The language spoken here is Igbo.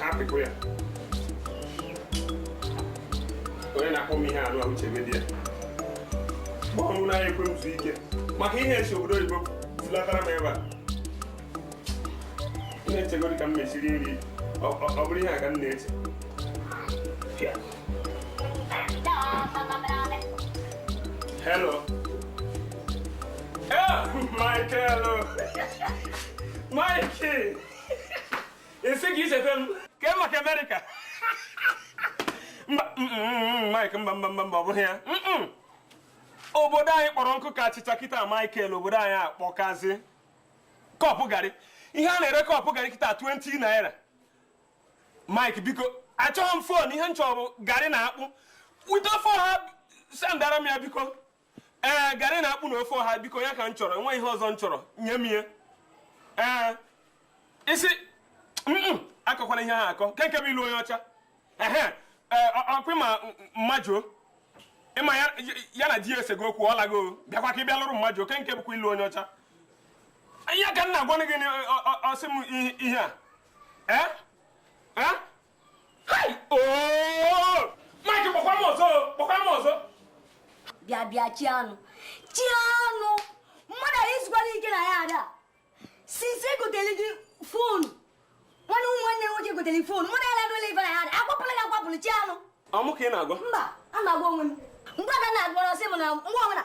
ha apịkọ ya onye na-akpọ m ihe anụ a uche medi ya ọ bụ na anaghị ekwe m zuo ike maka ihe esi obodo oyibo zilatara m ebe a m na-echegodi ka m mesi rie nri ọ ọ- ọ bụrụ ihe a ka m na-eche Hello. Oh, Michael. Mikey. ị sị ka icheta m ka e maka amerịka mba mm, mm, mm, mike mba mba mba mba ọ bụghị ya Mm-mm. obodo anyị kpọrọ nkụ ka achịcha kịta michael obodo anyị akpọkazi kọpụ garị ihe a na-ere kọpụ garị kịta 20 naira mike biko achọghị m fon ihe m chọrọ bụ garị na akpụ weta fon ha sendara m ya biko ee garị na akpụ na ofe ọha biko ya ka m chọrọ enweghị ihe ọzọ m chọrọ nye m ihe ee isi akọkwana ihe ha akọ kee nke bụ ịlụ onye ọcha ehe ọkwa ịma mmajuo ịma ya na di ya esego okwu ọ lago bịakwa ka ị bịa lụrụ mmajuo kee nke bụkwa ịlụ onye ọcha ya ka m na-agwanụ gị ọ sị m ihe a ee bịa bịa chianụ chianụ mmadụ anaghị ezukwara ike na yard a since egotere gị fonu nwanne ụmụ nwanne nwoke gotere fonu mmadụ ya na-adụla ife na yard a akwapụla gị akwapụrụ chianụ ọ mụ ka ị na-agwa mba ana m agwa onwe m mgbe ada na-agwa ọ sị m na mgbe ọbụla